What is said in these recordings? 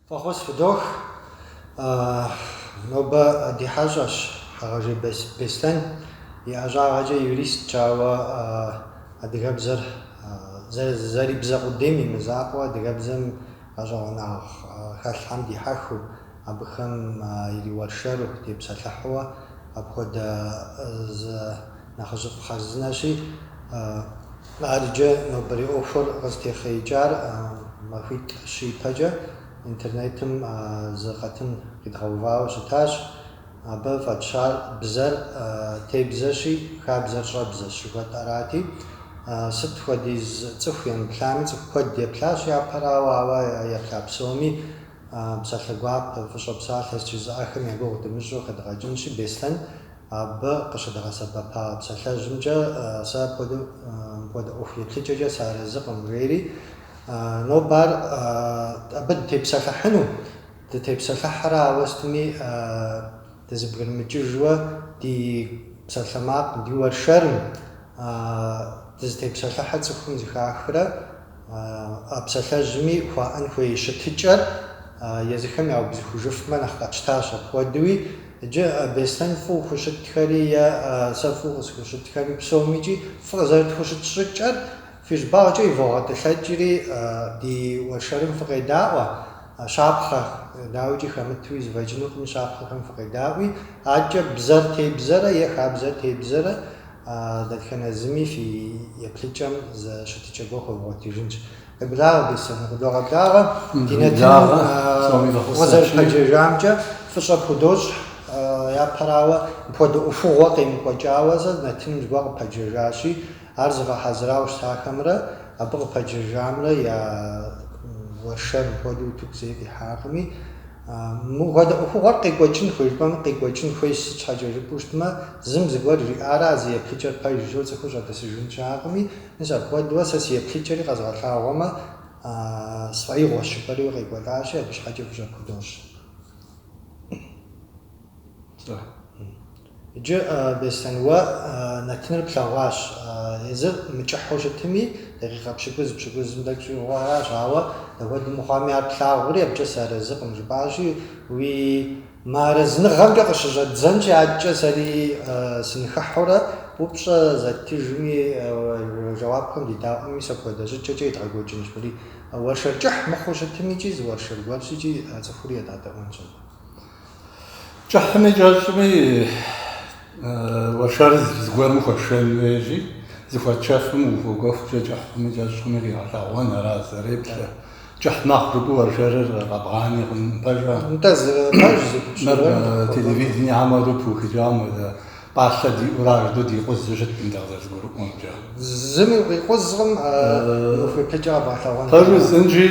Фӏэхъус фыдох. Нобэ ди хьэщӏэщ Хьэгъэжей Беслъэн. И ӏэщӏагъэкӏэ юристщ, ауэ адыгэбзэр зэрибзэ къудейм и мызакъуэу, адыгэбзэм гъэщӏэгъуэнагъ хэлъхэм дихьэхыу, абыхэм ириуэршэру, тепсэлъыхьууэ апхуэдэ зы Нэхъыжьыфӏ хъарзынэщи, ар иджы нобэрей ӏуэхур къызытехъеикӏар махуитӏ-щы ипэкӏэ интернетым зы къэтын къидгъэувауэ щытащ. Абы фӏэтщар бзэр тебзэщи, хабзэр щӏэбзэщ жыхуэтӏэрати. Сыт хуэдиз цӏыху емыплъами, цӏыху куэд еплъащ япэрауэ, ауэ еплъа псоми псалъэ гуапэ, фӏыщӏэ псалъэ жызыӏэхэм я гугъу дымыщӏу хэдгъэкӏынщи, Беслъэн Абы къыщыдгъэсэбэпа псалъэжьымкӏэ сэ апхуэдэу мыпхуэдэ ӏуэху еплъыкӏэкӏэ сыарэзыкъым, жери, нобэ ар абы дытепсэлъыхьыну, дытепсэлъыхьрэ, ауэ сытми дызэбгрымыкӏыжуэ ди псалъэмакъым, ди уэршэрым дызытепсэлъыхьыр цӏыхум зэхахрэ. А псалъэжьми хуаӏэн хуей щытыкӏэр езыхэм яубзыхужыфмэ нэхъ къэтщтащ. Апхуэдэуи иджы Беслъэн фӏыу хущытхэри е сэ фӏыу къысхущытхэри псомикӏи фыкъызэрытхущыт щӏыкӏэр фи щӏыбагъкӏэ ивогъэтӏылъэкӏри ди уэршэрым фыкъедаӏуэ, щапхъэ дауикӏи хэмытуи зэфӏэкӏынукъыми щапхъэхэм фыкъедаӏуи, адэкӏэ бзэр тебзэрэ е хабзэр тебзэрэ А дэтхэнэ зыми фи еплъыкӏэм зы щытыкӏэ гуэр хуэвгъуэтыжынщ. Къеблагъэ, Беслъэн, къыдогъэблагъэ. Ди нэтыным укъызэрыпэджэжамкӏэ фӏыщӏэ пхудощӏ. Япэрауэ, мыпхуэдэ ӏуэхугъуэ къемыкӏуэкӏауэ зы нэтыным зыгуэр къыпэджэжащи, ар зыгъэхьэзырауэ щытахэмрэ абы къыпэджэжамрэ я уэршэр мыпхуэдэу утыку зэи къихьакъыми, мыпхуэдэ ӏуэхугъуэр къекӏуэкӏын хуей жыпӏэмэ, къекӏуэкӏын хуейщ, сыт щхьэкӏэ жыпӏэу щытмэ, Зым зыгуэр жиӏарэ а зы еплъыкӏэр пэжу цӏыхур щӏэдэсыжын щыӏэкъыми, мис апхуэдэурэ сэ си еплъыкӏэри къэзгъэлъагъуэмэ, сфӏэигъуэщ жыпӏэри укъекӏуэлӏащи, абы щхьэкӏэ фӏыщӏэ пхудощӏ. Иджы, Беслъэн, уэ нэтыныр плъэгъуащ. Езыр мыкӏыхьу щытми, дакъикъэ пщыкӏуз, пщыкӏузым тӏэкӏу щӏигъуу аращ, ауэ дапхуэдэ мыхъуами ар плъагъури, абыкӏэ сыарэзыкъым, жыпӏащи, уи Мыарэзыныгъэмкӏэ къыщыщӏэддзэнщи адэкӏэ сэри сыныхыхьурэ, упщӏэ зэттыжми, жэуапхэм дедаӏуэми мис апхуэдэ щӏыкӏэкӏэ едгъэкӏуэкӏынщ. Уэри уэршэр кӏыхь мыхъуу щытым икӏи зы уэршэр гуэрщ икӏи а цӏыхури едгъэдэӏуэнщ абы. Кӏыхьми кӏэщӏми, уэршэр зыгуэрым хуэшэн хуей икӏи, зыхуэтшэфым ухуэкӏуэхукӏэ кӏыхьми кӏэщӏми къигъэлъэгъуэн ара зэреплъыр. Кӏыхь мэхъу жыпӏэу уэршэрыр къэбгъани хъун пэжа? Нтӏэ, зы пэж, зы гупсысэхэм дыкъыхуэкӏуэ. Телевидением хуэдэу пыухыкӏам хуэдэ пӏалъэ диӏэурэ ар жыдэу дикъузу щыткъым дэ къызэрызгурыӏуэмкӏэ. Зыми укъикъузкъым, уи еплъыкӏэ къэбгъэлъэгъуэнкӏэ. Пэжу жысӏэнщи,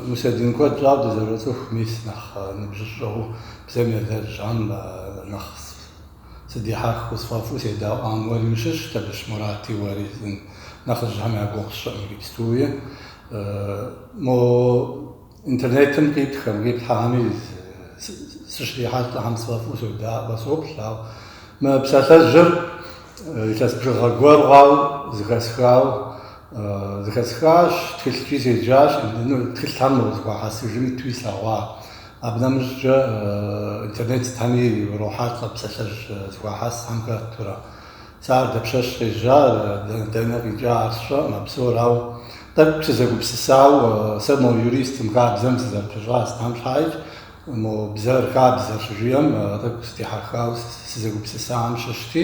Мусэдин, куэд щӏауэ дызэроцӏыху мис нэхъ ныбжьыщӏэу бзэм елэжьам нэхъ Сыдихьэхыу сфӏэфӏу седэӏуам уэри ущыщщ, Табыщ Мурати уэри зын нэхъыжьхэм я гугъу сщӏыӏым иджыпстуи. Мо интернетым къитхэм, къиплъхьэхэми сыщрихьэлӏэхэм сфӏэфӏу содаӏуэ, соплъ, ау мы псалъэжьыр илъэс бжыгъэ гуэр хъуау зыхэсхау зыхэсхащ, тхылъкӏи седжащ, тхылъхэр мо зыхуахьэсыжым итуи слъэгъуа. Абы нэмыщӏкӏэ интернет сытхэми урохьэлӏэ псалъэжь зыхуахьэс сытхэм хэтурэ. Сэ ар дапщэщ къежьар, дэнэ къикӏа ар сщӏэкъым, а псор, ауэ тӏэкӏу сызэгупсысауэ, сэ мо юристым, хабзэм сызэрыпыщӏа сытхэм щхьаикӏ, мо бзэр, хабзэр щыжиӏэм тӏэкӏу сытехьэхауэ сызэгупсысахэм щыщти,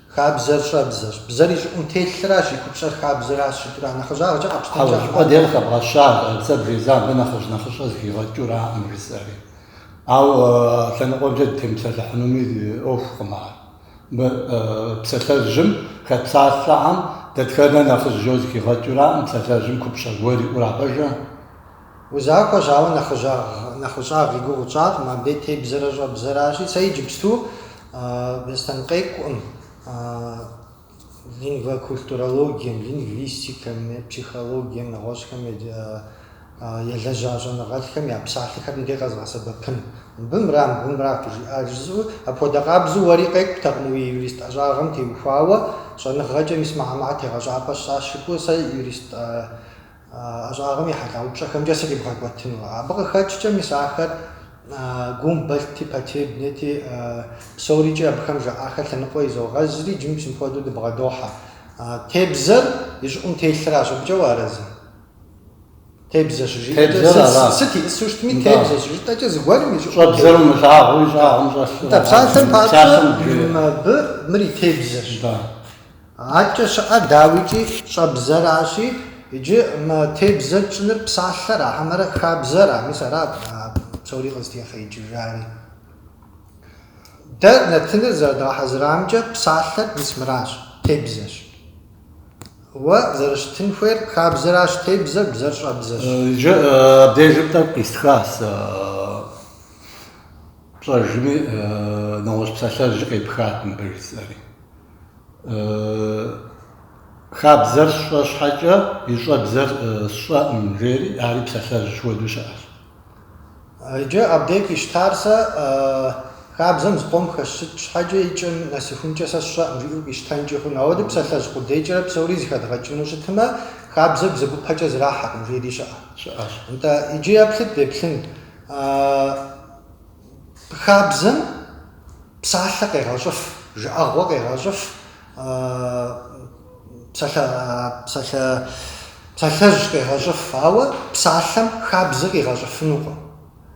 Хабзэр щӏэбзэщ. Бзэр и щӏыӏум телъращ, и купщӏэр хабзэращ жытӏэурэ, нэхъыжьагъкӏэ къэпщтэмкӏэ Хьэуэ, щӏыпӏэ дей къыхэбгъэщар, бзэр езым абы нэхъыжь нэхъыщӏэ зыхигъэкӏураӏым, жысӏэри. Ауэ лъэныкъуэмкӏэ дытемыпсэлъыхьынуми ӏуэхукъым ар. Мы псалъэжьым хэт псалъэхэм дэтхэнэр нэхъыжь жиӏэу зыхигъэкӏураӏым, псалъэжьым купщӏэ гуэр иӏура пэжэ? Узахуэщ, ауэ нэхъыжьагъ-нэхъыщӏагъ и гугъу тщӏакъым, абдей тебзэрэ щӏэбзэращи, сэ иджыпсту Бостэн къекӏуӏым, лингвокультурологием, лингвистикэм, психологием, нэгъуэщӏхэм елэжьа щӏэныгъэлӏхэм я псалъэхэр мыбдеж къэзгъэсэбэпын. Мыбы мыра, мыбы мыра къыжиӏар жысӏэу, апхуэдэ къабзэу уэри къекӏутэкъым уи юрист ӏэщӏагъэм теухуауэ, щӏэныгъэкӏэ мис мыхэр мыхэр тегъэщӏапӏэ сщӏащ жыпӏэу сэ юрист ӏэщӏагъэм и хьэлъэ упщӏэхэмкӏэ срибгъэкӏуэтыну. Абы къыхэкӏкӏэ, мис ахэр Гумбольдти, Потебнэти, псорикӏи абыхэм жаӏахэр лъэныкъуэ изогъэзри, иджы псоми хуэдэу дыбгъэдохьэ. Тебзэр и щӏыӏум телъращ, абыкӏэ уарэзы? Тебзэ щыжиӏэкӏэ, сыт ищӏысу щытми, тебзэ щыжытӏэкӏэ, зыгуэрым и щӏыӏум телъыр. Щӏэбзэр умылъагъуу и щӏагъым щӏэлъу. Нтӏэ, псалъэм папщӏэ, абы мыр и тебзэщ. Адэкӏэ щыӏэ дауикӏ и щӏэбзэращи, иджы мы тебзэ тщӏыныр псалъэра, хьэмэрэ хабзэра, мис ара псори къызытехъеикӏыжари. Дэ нэтыныр зэрыдгъэхьэзырамкӏэ псалъэр мис мыращ, тебзэщ. Уэ зэрыщытын хуейр хабзэращ, тебзэр, бзэр щӏэбзэщ. Иджы абдежым тӏэкӏу къистхащ, пщӏэжми нэгъуэщӏ псалъэжьи къепхат мыбы жысӏэри. Хабзэр сщӏэ щхьэкӏэ и щӏэбзэр сщӏэӏым, жери, ари псалъэжь хуэдэу щыӏэщ. Иджы абдей къищтар сэ хабзэм зыкъом хэсщӏыкӏ щхьэкӏэ и кӏэм нэсыхункӏэ сэ сщӏэӏым, жиӏэу къищтэнкӏи хъуну. Ауэдэ псалъэжь къудейкӏэрэ псори зыхэдгъэкӏыну щытмэ, хабзэр бзэгупэкӏэ зрахьэкъым, жери щыӏэ. Щыӏэщ. Нтӏэ, иджы еплъыт, деплъын. Хабзэм псалъэ къегъэщӏыф, жыӏэгъуэ къегъэщӏыф, псалъэжь къегъэщӏыф, ауэ псалъэм хабзэ къигъэщӏыфынукъым.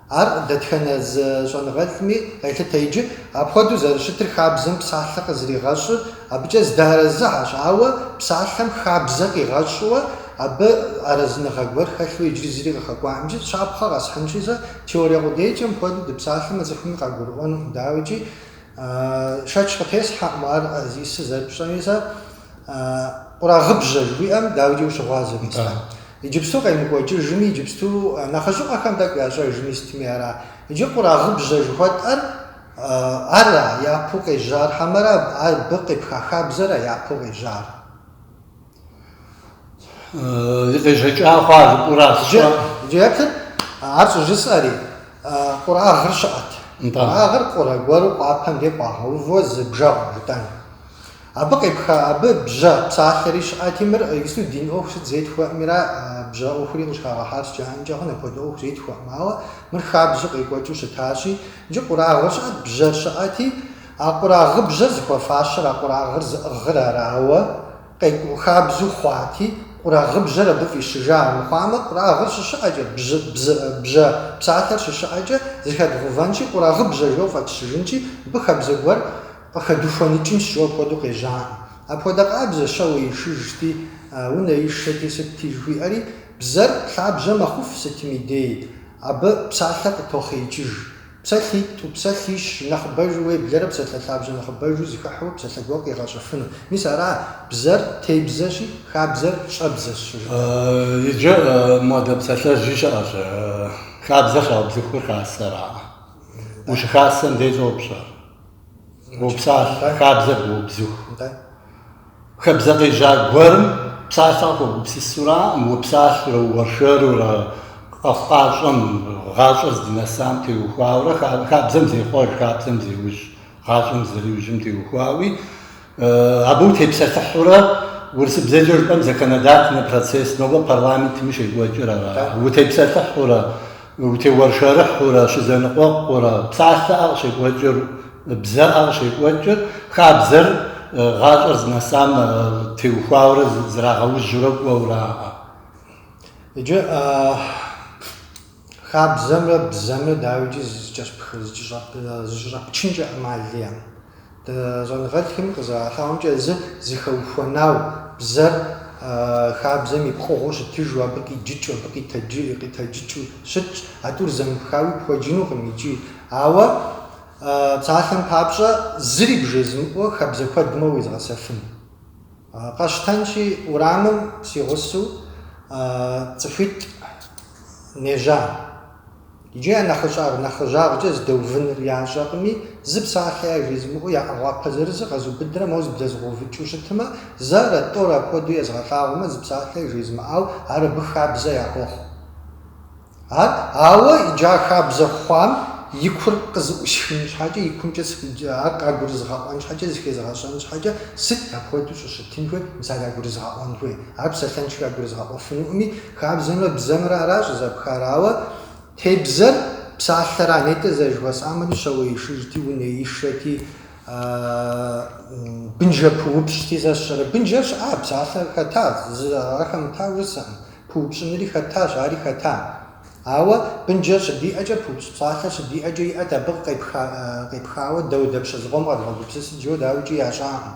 Ар дэтхэнэ зы щӏэныгъэлӏми къелъытэ иджы. Апхуэдэу зэрыщытыр хабзэм псалъэ къызэригъэщӏыр абыкӏэ зыдэарэзыхэщ, ауэ псалъэм хабзэ къигъэщӏыуэ абы арэзыныгъэ гуэр хэлъу иджыри зыри къыхэкӏуаӏыми, щапхъэ къэсхьынщи сэ, Теорие къудейкӏэ мыпхуэдэу дыпсалъэмэ цӏыхуми къагурыӏуэнукъым, дауикӏи, шэч къытесхьэкъым ар зищӏысыр зэрыпщӏэми сэ, къурагъыбжьэ жыхуиӏэм, дауикӏи ущыгъуазэми сэ. Иджыпсту къемыкӏуэкӏыжми, иджыпсту нэхъыжьыӏуэхэм тӏэкӏу ящӏэжми сытми ара? Иджы къурагъыбжьэ жыхуэтӏэр ара япэу къежьар, хьэмэрэ абы къепха хабзэра япэу къежьар? Къежьэкӏэ хъуауращи, иджы еплъыт, ар щӏыжысӏэри, къурагъыр щыӏэт. Къурагъыр къурэ гуэру къуапэм де къуагъэувэ зы бжэгъу жытӏэн. Абы къепха, абы бжьэ псалъэри щыӏэти, мыр иджыпсту дин ӏуэху сыт зетхуэӏым, ара, бжьэ ӏуэхури къыщӏыхагъэхьар сыт жаӏэнкӏэ хъун, апхуэдэ ӏуэху зетхуэӏым, ауэ мыр хабзэу къекӏуэкӏыу щытащи, иджы къурагъыр щыӏэт, бжьэр щыӏэти, А къурагъыбжьэр зыхуэфащэр а къурагъыр зыӏыгъыр арауэ, къекӏуу хабзу хъуати, къурагъыбжьэр абы фӏищыжа армыхъуамэ, къурагъыр щыщыӏэкӏэ, бжьы, бзы, бжьэ псалъэр щыщыӏэкӏэ зыхэдгъэувэнщи, къурагъыбжьэ жо фӏэтщыжынщи, абы хабзэ гуэр къыхэдухуэныкӏынщ жо апхуэдэу къежьаӏым. Апхуэдэ къабзэщ щауэишыжти, унэишэти, сытти жыхуиӏэри, бзэр лъабжьэ мэхъуф сытми дей, абы псалъэ къытохъеикӏыж. Псалъитӏу, псалъищ нэхъыбэжу уеблэрэ псалъэ лъабжьэ нэхъыбэжу зыхыхьэу псалъэ гуэр къигъэщӏыфыну. Мис ара бзэр тебзэщи, хабзэр щӏэбзэщ щӏыжытӏэр. Иджы модэ псалъэжьи щыӏэщ, хабзэр щаубзыхур хасэраӏэ. Ущыхасэм дей щыпщӏэр. Упсалъэу хабзэр уубзыхурэ. Хабзэ къежьа гуэрым псалъэ къыхуэбгупсысураӏым, упсалъурэ, уэршэрурэ, къэхъукъащӏэм, гъащӏэр здынэсам теухуауэрэ, хабзэм зехъуэж, хабзэм зеужь, гъащӏэм зэриужьым теухуауи, Абы утепсэлъыхьурэ урысыбзэкӏэ жыпӏэм законодательнэ процесс, нобэ парламентми щекӏуэкӏыр ара, утепсэлъыхьурэ, утеуэршэрыхьурэ, щызэныкъуэкъурэ, псалъэӏэ къыщекӏуэкӏыр, бзэӏэ къыщекӏуэкӏыр, хабзэр гъащӏэр зынэсам теухуауэрэ зрагъэужьурэ кӏуэурэ аӏэ. Иджы. Хабзэмрэ бзэмрэ дауикӏи зэкӏэщӏэпчынкӏэ ӏэмал иӏэкъым. Щӏэныгъэлӏхэми къызэралъагъумкӏэ, зы зыхэухуэнау бзэр хабзэм и пкъыгъуэу щытыжу, абы къиджыкӏыу, абы къитэджыкӏыу щытщ, а тӏур зэмыпхауи пхуэджынукъым икӏи. Ауэ псалъэм папщӏэ, зыри бжезымыӏэу хабзэ куэдмэ уезгъэсэфын. Къэщтэнщи, урамым си гъусэу цӏыхуитӏ нежьа. Иджы я нэхъыщӏагъ нэхъыжьагъкӏэ здэувыныр ящӏэкъыми, зы псалъэ яжезымыӏэу я ӏэгъуапэ зырызыр къэзубыдрэ моуэ зыблэзыгъэувыкӏыу щытмэ, зэрэ, тӏорэ апхуэдэу езыгъэлъагъумэ, зы псалъэ жезымыӏау ар абы хабзэ яхуохъу. Ар, ауэ иджы а хабзэ хъуам и кур къызыӏусхын щхьэкӏэ, и кумкӏэ ар къагурызыгъэӏуэн щхьэкӏэ, зыхезыгъэщӏэн щхьэкӏэ, сыт апхуэдэу щӏыщытын хуей, мис ар ягурызыгъэӏуэн хуей. Ар псалъэншэу ягурызыгъэӏуэфынукъыми, хабзэмрэ бзэмрэ ара щӏызэпхар, ауэ тебзэр псалъэра, нетӏэ зэрыжыхуэсӏамэри щауэишыжти, унэишэти, бынжэпыупщӏти, сэ сщӏэрэ, бынжэр щыӏа, псалъэр хэта, зы ара хэмыта жысӏэкъым. Пыупщӏынри хэтащ, ари хэта. Ауэ бынджэр щыдиӏэкӏэ, пыупщӏ псалъэр щыдиӏэкӏэ иӏэт абы къепхауэ дауэдапщэ зыкъом къэдгъэгупсысыт жаӏэу дауикӏи ящӏакъым.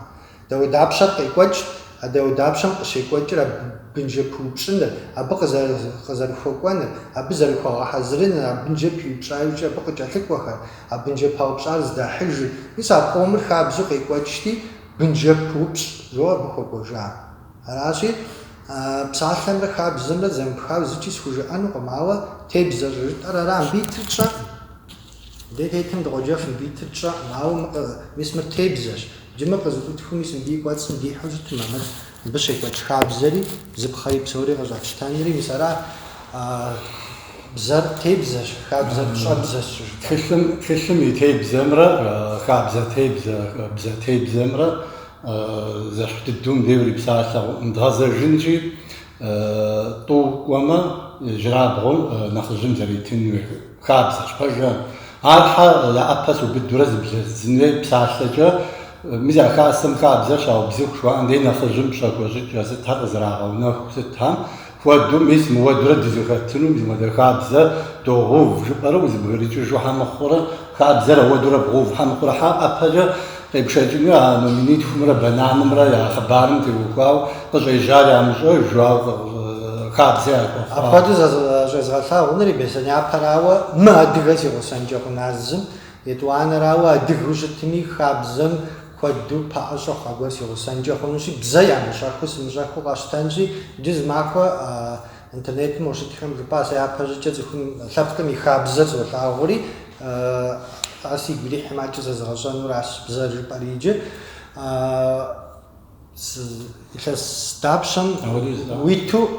Дауэдапщэр къекӏуэкӏт, а дауэдапщэм къыщекӏуэкӏыр а бынджэ пыупщӏыныр, абы къызэрыхуэкӏуэныр, абы зэрыхуэгъэхьэзырыныр, а бынджэр пиупщӏа иужькӏэ абы къыкӏэлъыкӏуэхэр, а бынджэ паупщӏар зыдахьыжыр, мис а къомыр хабзэу къекӏуэкӏти, бынджэ пыупщӏ жо абы хуэкӏуэжа. Аращи, псалъэмрэ хабзэмрэ зэмыпхауэ зыкӏи схужыӏэнукъым, ауэ тебзэ щӏыжытӏэр ара. Мыбы итыр тщӏэкъым. Дэ тетым дыкъоджэф, мыбы итыр тщӏэкъым, ауэ мыкъы, мис мыр тебзэщ. Джы мыр къызыӏутхыу, мис мыбы и кӏуэцӏым дихьэу щытмэ, мыр, мыбы щекӏуэкӏ хабзэри, бзыпхъэри псори къыщӏэфщтэнри, мис ара бзэр тебзэщ, хабзэр щӏэбзэщ щӏыжытӏэр. Тхылъым, тхылъым и тебзэмрэ хабзэ тебзэ, бзэ тебзэмрэ Зэшхь дыдэу мыбдеж ури псалъэм дгъэзэжынщи, тӏу кӏуэмэ, ижьырабгъур нэхъыжьым зэретын хуей хабзэщ. Пэжрэ? Ар щхьэ я ӏэпэ сыубыдурэ зыблэзыдзын хуей псалъэкӏэ, мис а хасэм хабзэр щаубзыху жыхуаӏэм дей нэхъыжьым пщӏэ хуэщӏыкӏэ сытхэр къызэрагъэунэху сытхэм? Хуэдэу, мис мыуэдурэ дызыхэтыну мис мыдэ хабзэ догъув жыпӏэрэ узыбгрыкӏыжу хьэ мыхъурэ, хабзэр ауэдурэ бгъув хьэ мыхъурэ хьэ ӏэпэкӏэ къепшэкӏыну а номинитхумрэ бананымрэ я хъыбарым теухуауэ къыщӏежьар ямыщӏэж, ауэ хабзэ яхуэхъуауэ. Апхуэдэу зыщӏезгъэлъагъунури беслъэняпэрауэ, мыадыгэ си гъусэнкӏэ хъуна зым, етӏуанэрауэ адыгэу щытми, хабзэм Куэду пэӏэщӏэ хъуа гуэр си гъусэнкӏэ хъунущи, бзэ ямыщӏэхыу сымыщӏэхыу къэщтэнщи, иджы зы махуэ интернетым ущытхэм жыпӏа сэ япэщӏыкӏэ цӏыхум лъэпкъым и хабзэр золъагъури, ар сигу ирихьмэ, адэкӏэ зэзыгъэщӏэнуращ бзэр жыпӏэри иджы. Илъэс дапщэм уиту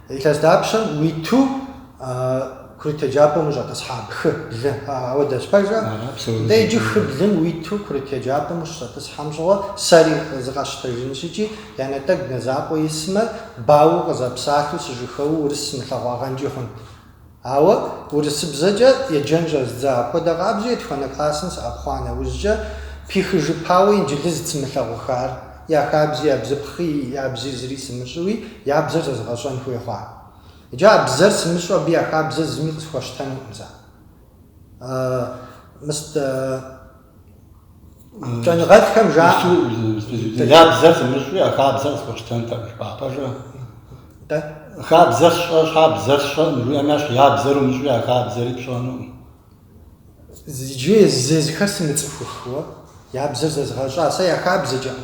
илъэс дапщэм уиту курыт еджапӏэм ущӏэтӏысхьа хы, блы, ауэдэщ, пэжа? Дэ иджы хы блым уиту курыт еджапӏэм ущыщӏэтӏысхьэм щыгъуэ сэри зыкъэсщтэжынщ икӏи, я нэтӏэгу нэ закъуэ исмэ, бауэу къызэпсалъэу сыжыхэуэу урыс сымылъэгъуагъэнкӏи хъунт. Ауэ урысыбзэкӏэ еджэн щӏэздза апхуэдэ къабзэу етхуанэ классым сыӏэпхъуа нэужькӏэ, пихыжыпауэ инджылыз сымылъэгъухар, я хабзи, я бзыпхъи, я бзи зыри сымыщӏыуи, я бзэр зэзыгъэщӏэн хуей хъуа. Иджы а бзэр сымыщӏэу абы я хабзэр зыми къысхуэщтэнукъым сэ. Мыст. Щӏэныгъэлӏхэм жаӏэ. Я бзэр сымыщӏи, а хабзэр къысхуэщтэнтэкъым, жыпӏа, пэжа? Хабзэр сщӏэ щхьэ бзэр сщӏэкъым, жиӏэми, ащ я бзэр умыщӏи, а хабзэри пщӏэнукъым. Иджы зезыхьэр сымыцӏыхухэу, я бзэр зэзгъэщӏа, сэ я хабзэкӏэ.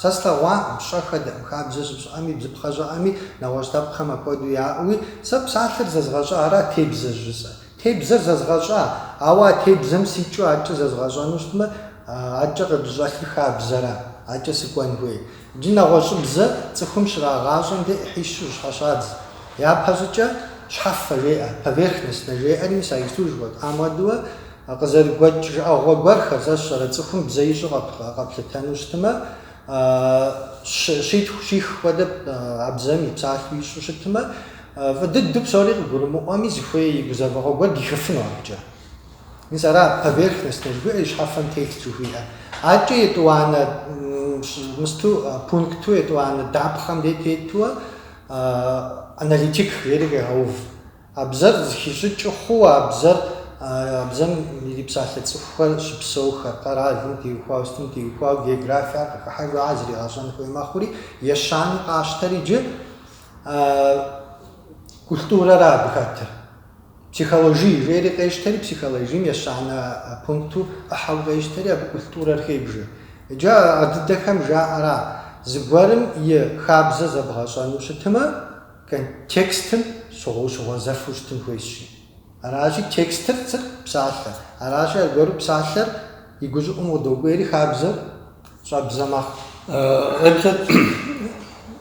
Сэ слъэгъуакъым, сщӏэхэтэкъым, хабзэ щыпщӏыӏэми, бзыпхъэ щыӏэми, нэгъуэщӏ лъэпкъхэм апхуэдэу яӏэуи, сэ псалъэр зэзгъэщӏа, ара тебзэр жысӏэ. Тебзэр зэзгъэщӏа, ауэ а тебзэм сикӏыу адэкӏэ зэзгъэщӏэну щытмэ, адэкӏэ къыдыщӏэлъыр хабзэра, адэкӏэ сыкӏуэн хуей. Иджы нэгъуэщӏыбзэ цӏыхум щрагъащӏэм де ӏыхьищу щхьэщадз. Япэщӏыкӏэ щхьэфэ жеӏэ, поверхностно жеӏэри, мис а Исур жыхуэтӏам хуэдэуэ, А къызэрыгуэкӏ жыӏэгъуэ гуэрхэр сэ сщӏэрэ цӏыхум бзэ ищӏу къэплъытэну щытымэ, щитху, щих хуэдэ а бзэм и псалъэу ищӏу щытымэ, фӏы дыдэу псори къыгурымыӏуэми, зыхуей и гузэвэгъуэ гуэр дихыфыну абыкӏэ. Мис ара поверхностно жыхуиӏэр, и щхьэфэм телъ жыхуиӏэр. Адэкӏэ етӏуанэ мысту, пункту, етӏуанэ дапхъэм де тетуэ аналитик жери къегъэув. А бзэр зыхищӏыкӏыу хъууэ а бзэр, а бзэм ирипсалъэ цӏыхухэр щыпсэухэр, къэралым теухуауэ, сытым теухуауэ географиар къыхыхьэжа зригъэщӏэн хуей мэхъури, ещанэу къащтэр иджы культурэра абы хэтыр. Психологие жери къещтэри, психологием ещанэ пункту ӏыхьэу къещтэри, абы культурэр хебжэ. Иджы а дыдэхэм жаӏэра, зыгуэрым и хабзэ зэбгъэщӏэну щытымэ, Текстым щыгъу ущыгъуэзэфу щытын хуейщи. Аращи, текстыр сыт, псалъэ. Аращи, аргуэру псалъэр и гущӏыӏум къыдокӏуейри хабзэр щӏэбзэ мэхъу. Еплъ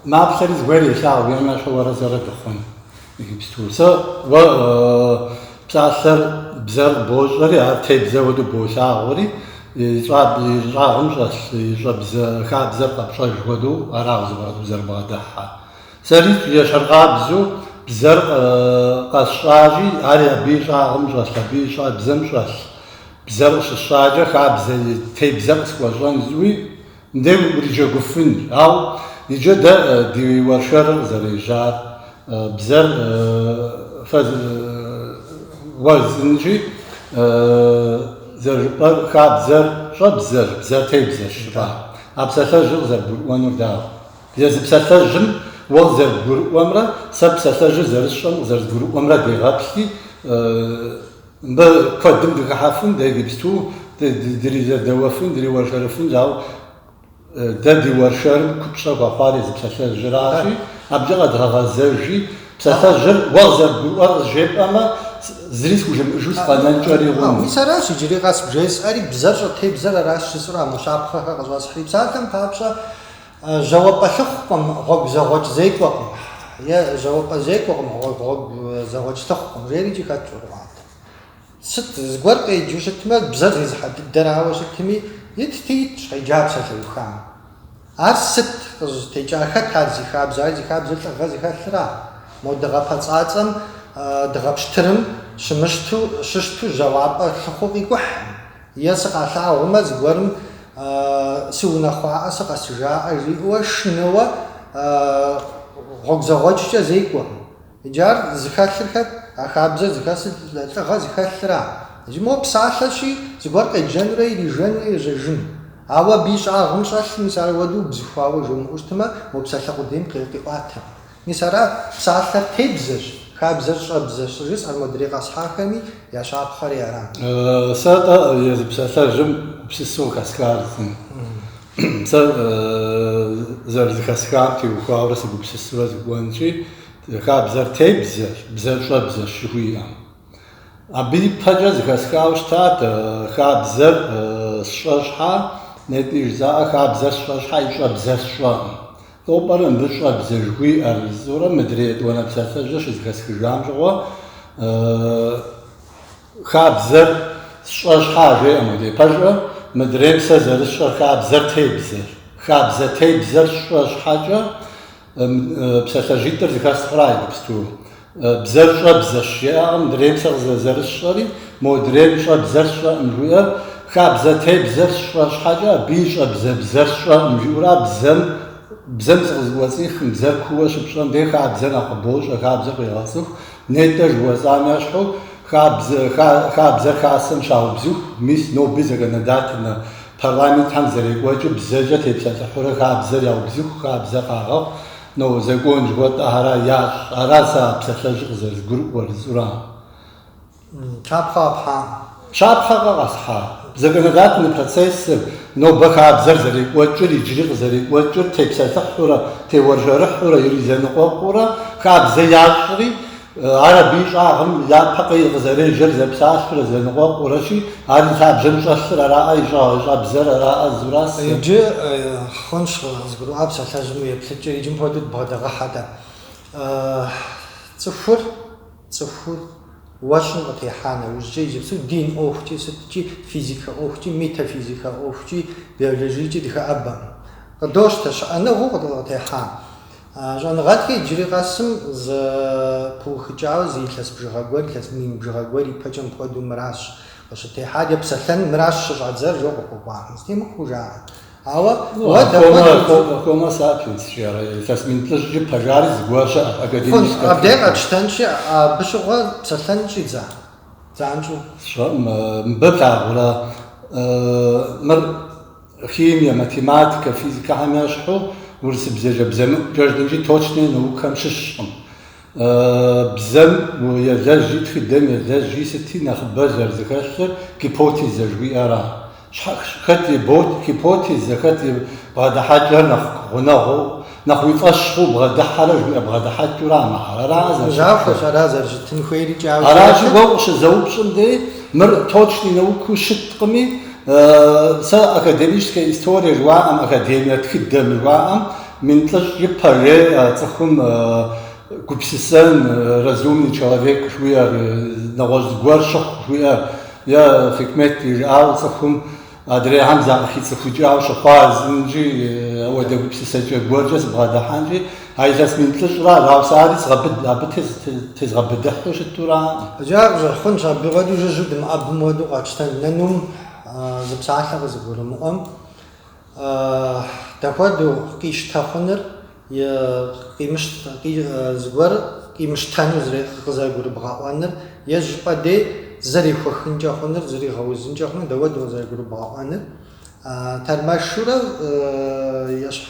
маплъэри зыгуэр елъагъу, и мащӏэ уэрэ сэрэ дыхъун иджыпсту. Сэ уэ псалъэр, бзэр бощӏэри, ар тебзэ хуэдэу болъагъури, и щӏагъым щӏэлъ и щӏэбзэ хабзэр къэпщӏэж хуэдэу ара уэ зыгуэр къызэрыбгъэдыхьэр. Сэрикӏ ещхьыркъабзэу бзэр къэсщӏащи, ари абы и щӏагъым щӏэлъ, абы и щӏэбзэм щӏэлъ. Бзэр къыщысщӏакӏэ, хабзэ и тебзэр къысхуэщӏэн жыӏуи, мыбдей уриджэгуфынщ. Ауэ иджы дэ ди уэршэрыр къызэрежьар, бзэр фэ уэзынщи, зэрыжыпӏэр, хабзэр щӏэбзэщ, бзэр тебзэщ жыпӏа. А псалъэжьыр къызэрыбгурыӏуэнур дауэ? Езы псалъэжьым уэ къызэрыбгурыӏуэмрэ сэ псалъэжьыр зэрысщӏэм къызэрызгурыӏуэмрэ дегъэплъи, мыбы куэдым дыхыхьэфын, дэ иджыпсту дризэдэуэфын, дриуэршэрыфын, ауэ дэ ди уэршэрым купщӏэ хуэхъуар езы псалъэжьыращи, абыкӏэ къэдгъэгъэзэжи, псалъэжьыр уэ къызэрыбгурыӏуэр къызжепӏэмэ, зыри схужымыӏыжу сыкъэнэнкӏэри хъун. Мис аращ иджыри къэс бжесӏэри, бзэр щӏытебзэр аращ жысӏэу а мо щапхъэхэр къыщӏэсхьри. Псалъэм папщӏэ, Жьауэпӏэ лъыхъукъым, гъуэгу зэгъуэкӏ зекӏуэкъым е жьауэпӏэ зекӏуэкъым, гъуэгу зэгъуэкӏ лъыхъукъым жери икӏи хэтщ ӏуэрыӏуатэм. Сыт, зыгуэр къеджэу щытмэ, бзэр зезыхьэ дыдэрауэ щытми, итти итщ къеджа псалъэухам. Ар сыт, къызытекӏар, хэт ар зи хабзэ? Ар зи хабзэр лӏыгъэ зыхэлъра? Мо дыгъэ пэцӏацӏэм, дыгъэ пщтырым щымыщту, щыщту жьауапӏэ лъыхъуэу къикӏухьым. Е сыкъалъагъумэ, зыгуэрым сыунэхъуаӏэ, сыкъэсыжаӏэ, жиӏэуэ шынэуэ гъуэгу зэгъуэкӏкӏэ зекӏуэкъым. Иджы ар зыхэлъыр хэт? А хабзэр зыхэлъыр лӏыгъэ зыхэлъра? Иджы мо псалъэщи, зыгуэр къеджэнурэ ирижэнурэ ежьэжын. Ауэ абы и щӏагъым щӏэлъ, мис, аруэдэу бзыхуауэ жумыӏэу щытмэ, мо псалъэ къудейм къиӏуатэкъым. Мис ара псалъэр тебзэщ, хабзэр щӏэбзэщ жысӏэр модрей къэсхьахэми я щапхъэри арат. Сэ атӏэ езы псалъэжьым гупсысэу хэсхар зым. Сэ зэрызыхэсхам теухуауэрэ сыгупсысурэ сыкӏуэнщи, хабзэр тебзэщ, бзэр щӏэбзэщ жыхуиӏэм. Абы ипэкӏэ зыхэсхауэ щытат хабзэр сщӏэ щхьа, нетӏи жызаӏэ хабзэр сщӏэ щхьа и щӏэбзэр сщӏэкъым. Сыту пӏэрэ мыбы щӏэбзэ жыхуиӏэр? Жысӏурэ мыдрей етӏуанэ псалъэжьыр щызэхэсхыжам щыгъуэ хабзэр сщӏэ щхьа жеӏэ модей, пэжӏэ, мыдрейм сэ зэрысщӏэр хабзэр тебзэр. Хабзэ тебзэр сщӏэ щхьэкӏэ псалъэжьитӏыр зыхэсхъра иджыпсту? Бзэр щӏэбзэщ жеӏэкъым, мыдрейм сэ къызэ зэрысщӏэри, модрейм щӏэбзэр сщӏэкъым жиӏэр, хабзэ тебзэр сщӏэ щхьэкӏэ, абы и щӏэбзэ бзэр сщӏэкъым жиӏэура бзэм, бзэм зыкъызэкӏуэцӏихым, бзэр куууэ щыпщӏэм дей хабзэр нэхъ къыбощӏэ, хабзэр къегъэцӏыху, нетӏэ жыхуэсӏам ещхьу, хабзэр хасэм щаубзыху, мис ноби законодательнэ парламентхэм зэрекӏуэкӏыу бзэкӏэ тепсэлъыхьурэ хабзэр яубзыху, хабзэр къагъэхъу, Но закон жыхуэтӏэхэра ящӏ? Ара сэ а псалъэжьыр къызэрызгурыӏуэр, жысӏура? Щапхъэ къэпхьам. Щапхъэ къэсхьа? Законодательный процессыр, нобэ хабзэр зэрекӏуэкӏыр, иджыри къызэрекӏуэкӏыр, тепсэлъыхьурэ, теуэржэрыхьурэ, иризэныкъуэкъуурэ, хабзэ ящӏри, Ар абы и щӏагъым япэ къы къызэрежьэр зэпсалъурэ зэныкъуэкъурэщи, ар и лъабжьэм щӏэлъыр араӏэ, и щӏагъ, и щӏэбзэр араӏэ жысӏуращ. Иджы хъунщ, къызгурыӏуа псалъэжьым еплъыкӏэ, иджы мыпхуэдэу дыбгъэдыгъэхьэ-тӏэ. Цӏыхур, цӏыхур уэ щӏым къытехьа нэужькӏэ, иджыпсту дин ӏуэхукӏи, сыткӏи физикэ ӏуэхукӏи, метафизикэ ӏуэхукӏи, биологиекӏи дыхэӏэбэкъым. Къыдощтэ щыӏэныгъэу къытехьам. А щӏэныгъэлӏхэр иджыри къэсым зэ пыухыкӏауэ зы илъэс бжыгъэ гуэр, илъэс мин бжыгъэ гуэр ипэкӏэ мыпхуэдэу мыращ къыщытехьар, е псэлъэн мыращ щыщӏадзэр, жо къыхуэкӏуахэм. Зытемыхуэу жаӏэ. Ауэ уэ дапхуэдэ удз. Хомо сапиенс жиӏэрэ, илъэс мин плӏыщӏкӏэ ипэ жари зы гуэр щыӏэщ, академическэ тхылъым. Абдей къэтщтэнщи, абы щыгъуэ псэлъэн щӏидза? Занщӏэу. Сщӏэӏым, мыбы плъагъурэ мыр? химие, математикэ, физикэхэм ящхьу урысыбзэкӏэ бзэмыӏукӏэ жытӏэнщи точные наукхэм щыщкъым. Бзэм елэжьи, тхыдэм елэжьи, сыти нэхъыбэ зэрызэхэлъыр гипотезэ жыхуиӏэра? Хэт и гипотезэ, хэт и бгъэдыхьэкӏэр нэхъ гъунэгъуу Нэхъ уи фӏэщ хъу, бгъэдыхьэрэ, жыхуиӏэ бгъэдыхьэкӏыурэ а мыхьэр. Аракъэ зэрыщытын хуейр? Захуэщ ара зэрыщытын хуейр икӏи ауэ сэ Аращи, уэ укъыщызэупщӏым дей, мыр точный науку щыткъыми, сэ академическая история жыуаӏэм, академие тхыдэм жыуаӏэм, мин плӏыщӏ ипэ жеӏэ цӏыхум гупсысэн, разумный человек жыхуиӏэр, нэгъуэщӏ зыгуэр щыхъу жыхуиӏэр, е хьикмэт ищӏауэ цӏыхум. Адрейхэм закъыхицӏыхукӏауэ щыхъуа, зымкӏи, уэдэ гупсысэкӏэ гуэркӏэ сыбгъэдыхьэнкӏи, а илъэс мин плӏыщӏра, ауэ сэ ари згъэбыд, абы тезгъэбыдыхьу щытураӏым. Иджы ар къыщӏэхъунщ, абы хуэдэу жыжьэу дымыӏэбым хуэдэу къэтщтэн. Нанум зы псалъэ къызыгурымыӏуэм, дапхуэдэу къищтэ хъуныр. е зыгуэр къимыщтэну къызэрыгурыбгъэӏуэныр, е зыщӏыпӏэ дей зэрехуэхынкӏэ хъуныр, зэригъэузынкӏэ хъуныр, дауэдэу къызэрыгурыбгъэӏуэныр. Тэрмэшурэ ещхь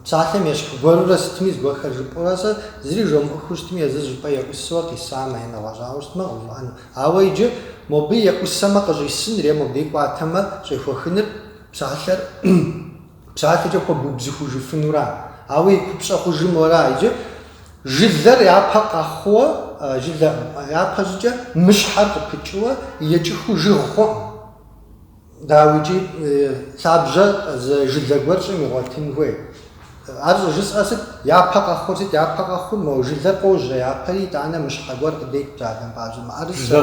псалъэм ещхь гуэрурэ сытми зыгуэрхэр жыпӏэурэ сэ зыри жомыӏухыу щытми, езыр зыщӏыпӏэ еӏусэурэ къисамэ, е нэгъуэщӏауэ щытмэ, къыгурыӏуэну. Ауэ иджы мобы еӏусэмэ къыщӏисыныр, е мобдей кӏуатэмэ щӏехуэхыныр псалъэр. Псалъэкӏэ хуэбубзыхужыфынура? Ауэ и купщӏэ хъужыр мора? Иджы жылэр япэ къэхъууэ, жылэ япэ щӏыкӏэ мыщхьэр къыпыкӏыуэ екӏыхыу жыг хъуӏым. Дауи икӏи лъабжьэ зы жылэ гуэр щӏым игъуэтын хуей. Ар щӏыжысӏэр сыт? Япэ къэхъур сыт? Япэ къэхъур, мо жылэр къожьэ япэри, итӏанэ мыщхьэ гуэр къыдет, псалъэм папщӏэ, мыӏэрысэ,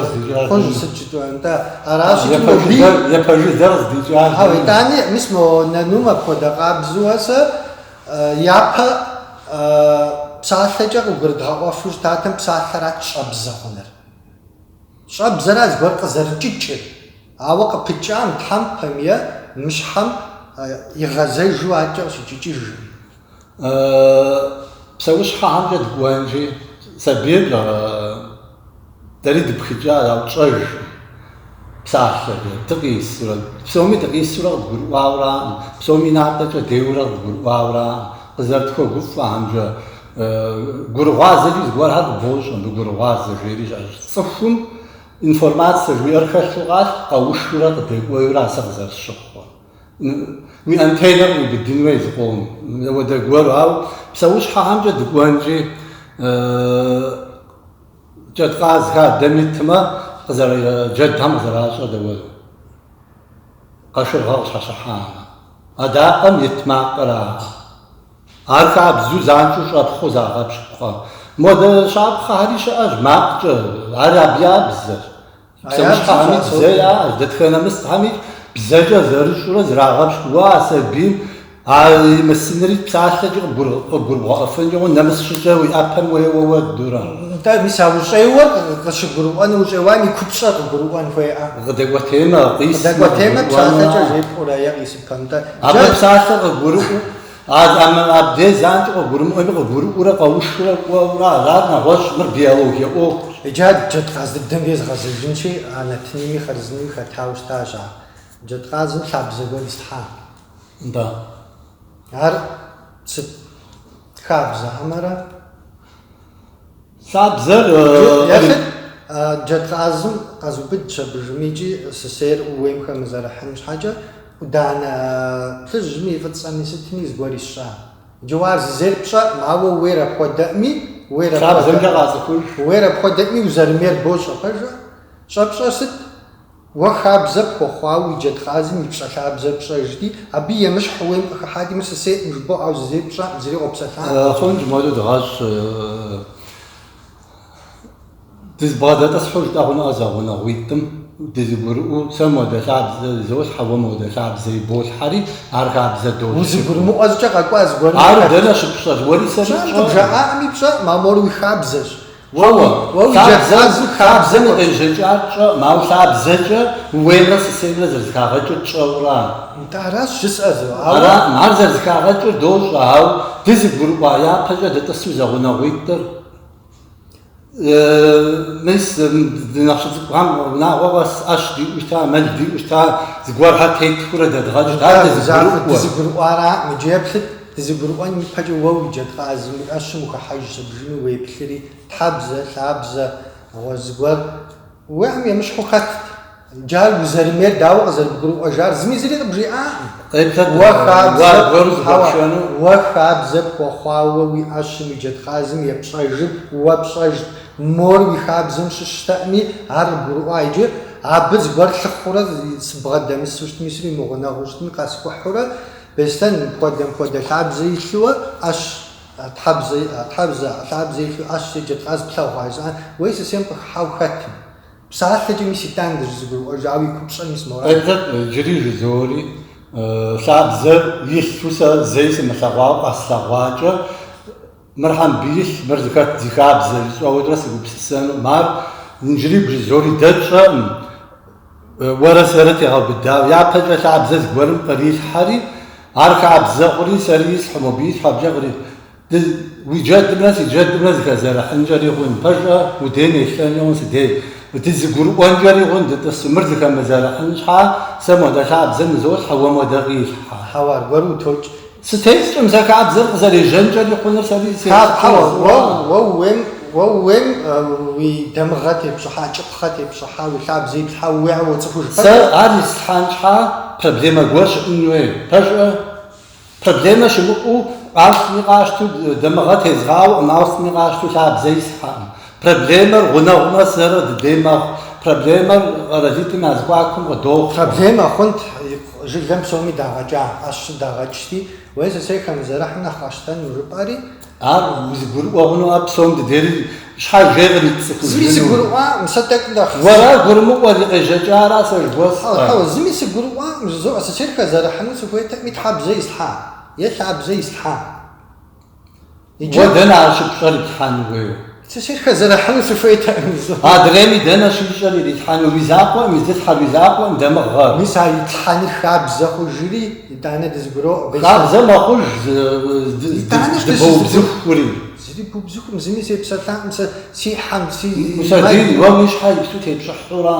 кхъужь, сыт жытӏэу, нтӏэ, аращ икӏи мобыи. Япэ жылэр къыздикӏар. Ауэ итӏани, мис мо нанум апхуэдэ къабзуэ сэ япэ псалъэкӏэ къыгурыдгъэӏуэфу щытатэм, псалъэрат щӏэбзэ хъуныр. Щӏэбзэрат зыгуэр къызэрыкӏыкӏыр. Ауэ къыпыкӏа мыщхьэм, пхъэм и мыщхьэм игъэзэжу акӏэ къыщыкӏыкӏыжым. Псэущхьэхьэмкӏэ дыкӏуэнщи, сабийр дэри дыпхыкӏа, ауэ тщӏэж псалъэ дыкъисурэ, псоми дыкъисурэ къыдгурыӏуауэраӏым, псоми натӏэкӏэ деуэрэ къыдгурыӏуауэраӏым. Къызэрытхуэгуфӏэхьэмкӏэ, гурыгъуазэкӏэ зыгуэрхэр къыбощӏэ, мы гурыгъуазэ жери щыӏэщ. Цӏыхум Информацэ жыхуиӏэр хэлъу къалъху, къэушурэ къыдекӏуейурэ а сэ къызэрысщыхъур. Уи антеннэр къиубыдын хуей зы къом, уэдэ гуэру. Ауэ псэущхьэхэмкӏэ дыкӏуэнщи, джэдкъаз хадэм итмэ, къызэры джэдхэм къызэращӏэ дауэдэу, къашыргъэ къыщхьэщыхьамэ, адакъэм ит макъыр ара. Ар хабзу занщӏэу щӏэпхъуэу загъэпщкӏукъэ? Модэ щапхъэхэри щыӏэщ макъкӏэ, ар абы я бзэщ. Псэущхьэхэми бзэ яӏэщ, дэтхэнэ мысхьэми бзэкӏэ зэрыщӏурэ зырагъэпщкӏууэ а сабийм а имысынри псалъэкӏи къыгурыбгъэӏуэфынкӏэ хъунт, нэмыс щӏыкӏэу и ӏэпэм уеуэу уэдурэ. Нтӏэ, мис а ущӏеуэр къыщыгурыӏуэну ущӏеуам и купщӏэр къыгурыӏуэн хуейӏэ. Къыдэкӏуэтеймэ, къисмэ къыгурыӏуэну. Къыдэкӏуэтеймэ псалъэкӏэ жепӏурэ е къисыпэм, нтӏэ, джэ. Абы псалъэр къыгурыӏуэу. Абдей занщӏэу къыгурымыӏуэми, къыгурыӏуэурэ къэушурэ кӏуэурэ арат нэгъуэщӏ, мыр биологие ӏуэхущ. Иджы ар джэдкъаз дыдэм дей згъэзэжынщи, анатынэми хъарзынэу хэтауэ щытащ ар. Джэдкъазым лъабзэ гуэр ислъхьа? Нтӏэ. Ар сыт хабзэ? Хьэмэрэ? Лъабзэр Ехьи, джэдкъазым къэзубыд щабжым икӏи сысейр ууейм хэмызэрыхьын щхьэкӏэ, ӏуданэ плъыжьми и фӏыцӏэми сытми зыгуэр исщӏа? Иджы уэ ар зызейр пщӏэӏым, ауэ ууейр апхуэдэӏыми, ууейр Лъабзэмкӏэ къацӏыхуж. ууейр апхуэдэӏыми узэрымейр бощӏэ, пэжа? Щӏэпщӏэр сыт? Уэ хабзэ пхуэхъуауэ уи джэдкъазым ипщӏэ лъабзэр пщӏэжти, абы емыщхь ууейм къыхыхьати, Мыр сысейӏым жыбоӏэ, ау зызейр пщӏэӏым, зыри къопсэлъакъым. Хъунщ, модрэ дыгъэщӏ. Дызбгъэдэтӏысхьу жытӏэ хъунукъэ зэгъунэгъуитӏым, дызыгурыӏуэу, Сэ модэ лъабзэ изолъхьэ, уэ модэ лъабзэ иболъхьэри, ар хабзэ дощӏ. Узыгурымыӏуэзкӏэ къэкӏуа зыгуэрым? Ар дэнэ щыпщӏэр, уэри сэри пщӏэрэ? Къыбжаӏаӏыми пщӏэӏым, а мор уи хабзэщ. Уэ, уэ уи джэдкъаз хабзэм и къежьэкӏар тщӏэӏым, ауэ лъабзэкӏэ ууеймрэ сысеймрэ зэрызыхагъэкӏыр тщӏэурэ? Нтӏэ, аращ жысӏэзу, ауэ. Ара, ар зэрызыхагъэкӏыр дощӏэ, ауэ дызыгурыӏуа япэкӏэ дытӏысу зэгъунэгъуитӏыр, мис, ди нэхъ щыцӏыкӏухэм унагъуэ къэс ӏэщ диӏэу щыта, мэл диӏэу щыта, зыгуэрхэр тетхыурэ дэдгъэкӏырт, ар дызыгурыӏуэ. Дызыгурыӏуара, иджы еплъыт. Дызыгурыӏуэн ипэкӏэ уэ уи джэдкъазым уи ӏэщым ухыхьэж щыбжым уеплъри, тхьэбзэ, лъабзэ, гъуэ зыгуэр уиӏэм емыщхьу хэтт. Иджы ар узэрымейр, дауэ къызэрыбгурыӏуэжар, зыми зыри къыбжиӏакъым. Къеплъэт уэ аргуэру зыхэпшэну. Хьэуэ, уэ хабзэ пхуэхъуауэ уи ӏэщым уи джэдкъазым епщӏэжыр уэ пщӏэжт. Мор уи хабзэм щыщтэӏыми, ар къыбгурыӏуа иджы. Абы зыгуэр лъыхъурэ сыбгъэдэмысу щытми, сыримыгъунэгъуу щытми къэскӏухьурэ, Мыстэм хуэдэм хуэдэ лъабзэ илъууэ ӏэщ тхьэбзэ иӏа, тхьэбзэ лъабзэ илъу ӏэщ е джэдкъаз плъэгъуа жысӏа, уей сысейм къыхыхьау хэтым. Псалъэкӏэ мис итӏан дызыгурыӏуэжауэ и купщӏэм мис мора. Къеплъэт иджыри жызори, лъабзэр илъу сэ зэи сымылъэгъуауэ къэслъэгъуакӏэ, Мыр хьэмбиилъ, мыр зыхэт зи хабзэ, жысӏэурэ сыгупсысэну, мар иджыри бжызоӏэри дэ тщӏэкъым, уэрэ сэрэ тегъэубыдауэ. Япэкӏэ лъабзэ зыгуэрым кърилъхьэри, ар хабзэ хъури, сэри ислъхьу, мобы илъхьу абыкӏэ кърилъхьу. Ды, уи джэдымрэ си джэдымрэ зыхэзэрыхьынкӏэри хъун, пэжӏэ, удейм елъэнкӏэ хъун сыдей, дызыгурыӏуэнкӏэри хъун дытӏысу. Мыр зыхэмызэрыхьын щхьа, сэ модэ лъабзэ нызолъхьэ, уэ модэ къилъхьэ. Хьэуэ, аргуэру утокӏ, Сытекӏкъым, сэ хабзэр къызэрежьэнкӏэри хъунур сэри сехъуэу. Хьэуэ, уэ ууейм уи дамыгъэ тепщӏыхьа, кӏыпхъэ тепщӏыхьа, уи лъабзэ иплъхьа ууейр уоцӏыхуж пэжу. Сэ ар ислъхьан щхьа проблемэ гуэр щыӏын хуей, пэжӏэ. Проблемэ щымыӏэу ауэ сытми къащту дамыгъэ тезгъауэкъым, ауэ сытми къащту лъабзэ ислъхьакъым. Проблемэр гъунэгъумрэ сэрэ дыдей мэхъу. Проблемэр къэралитӏым я зэхуакум къыдохъуэ. Проблемэ хъунт жылэм псоми дагъэкӏа, ӏэщи дагъэкӏти, ууей сысей хэмызэрыхьым нэхъ къэсщтэну жыпӏэри. Ар узыгурыӏуэ хъунуӏэ псом дыдери щхьэж ей къицӏыхуу зыми. Зыми сыгурыӏуаӏым, сэ тӏэкӏу нэхъ. Уэра гурымыӏуэр и къежьэкӏара сэ жыхуэсӏэ. Хьэуэ, зыми сыгурыӏуаӏым, жызоӏэ сысейр хэзэрыхьыну сыхуейтэкъми тхьэбзэ ислъхьа, е лъабзэ ислъхьа. Уэ дэнэ ар щыпщӏэр иплъхьэн хуейуэ? Сысейр хэзэрыхьыну сыхуейтэкъыми. Адрейми дэнэ щищӏэр ирилъхьэну? Уи закъуэм, изылъхьэр уи закъуэм, дамыгъэ. Мис а илъхьэныр хабзэ хъужри, итӏанэ дызыгуроӏуэ. Бейсэ. Хабзэ мэхъуж здыбоубзыхури. Зыри бубзыхум, зыми сепсэлъакъым сэ си хьэм, си. Мусэ, ди, уэ уи щхьэ иплъу тепщӏыхьу ара?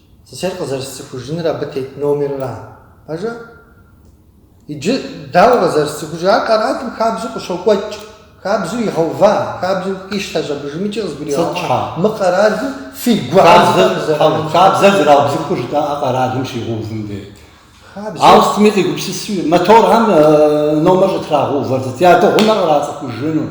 Сысейр къызэрысцӏыхужыныр абы тет номерра? Пэжа? Иджы дауэ къызэрысцӏыхужыр? Ар къэралым хабзэу къыщокӏуэкӏ, хабзэу игъэува, хабзэу къищтэщ абы, жымыкӏи къызгуригъэӏуа. Мы къэралым фи гугъэзхэм къызэрыӏуэху. Хабзэр зэраубзыхур жытӏэӏэ къэралым щигъэувын дей. Ауэ сытми къигупсысри, моторхэм номэр щӏытрагъэувэр сыт, ядыгъунур кърацӏыхужыну.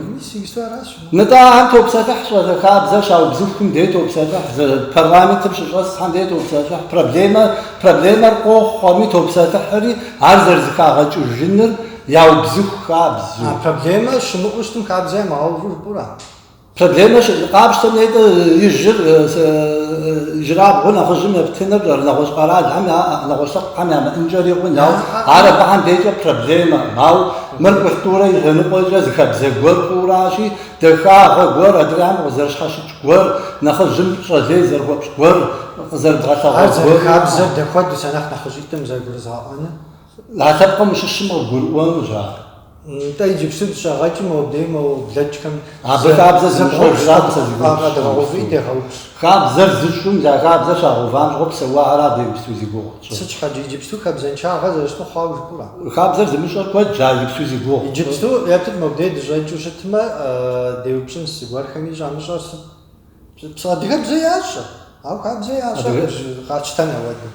Нтӏэ, ахэр топсэлъыхь щӏалэ хабзэр щаубзыхум дей топсэлъыхь, парламентым щыщӏэсхэм дей топсэлъыхь, проблемэ, проблемэр къохъуэми топсэлъыхьри, ар зэрызыхагъэкӏыжыныр яубзыху хабзэу. А проблемэ щымыӏэу щытым хабзэ ямыгъэуву жыпӏэура? Проблемэ щыӏ къапщтэм нетӏэ ижьыр, ижьырабгъур нэхъыжьым ептыныр нэгъуэщӏ къэралхэм, нэгъуэщӏ лъэпкъхэм ямыӏэнкӏэри хъун, ауэ ар абыхэм дейкӏэ проблемэм. Ауэ мыр культурэ и лъэныкъуэкӏэ зы хабзэ гуэр хъуу аращи, дахагъэ гуэр, адрейхэм къызэрыщхьэщыкӏ гуэр, нэхъыжьым пщӏэ лей зэрыхуэпщӏ гуэр, къызэрыбгъэлъэгъуэ гуэр. Ар зэрыхабзэр дэ хуэдэщ, анэхъ нэхъыжьитӏым зэрыгурызгъэӏуэныр. А лъэпкъым ущыщым къыбгурыӏуэнущ ар. Нтӏэ, иджыпсту дыщӏэгъэкӏи мобдеж мо блэкӏхэм Абы хабзэ зымыщӏэжращ зи гугъу къэдгъэгъуфи дегъэупщӏ. Хабзэр зыщӏым, я хабзэр щагъэувам щыгъуэ псэуахэра абы иджыпсту зи гугъу пщӏыр? Сыт щхьэкӏэ иджыпсту хабзэншагъэ зэрыщыту хъуауэ жыпӏэурэ? Хабзэр зымыщӏэр куэд щӏа иджыпсту зи гугъу пщӏыр? Иджыпсту, еплъыт мобдеж дыщӏэкӏыу щытмэ, деупщӏынщ зыгуэрхэми, щӏамыщӏэр сыт? Псы адыгэбзэ ящӏэ, ауэ хабзэ ящӏэ къэтщтэн апхуэдэу.